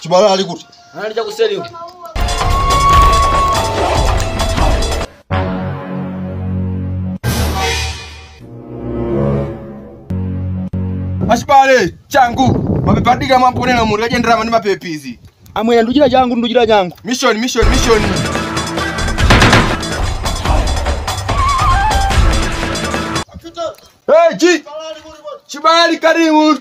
chibala ali kuti Anali cha kuseli huko. achibale changu mapepa adika mwamponena munthu agenderama ndi mapepisi amwene nduchira changu nduchira changu mission mission mission Hey, G! Chibali karibu!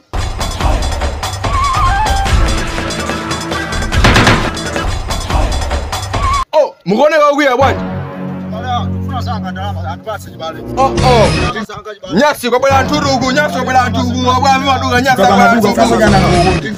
Oh, mukone wakuya bwana. Oh, oh. Nyasi kwa bwana nturugu, nyasi kwa bwana nturugu, kwa bwana maduga, nyasi kwa bwana nturugu.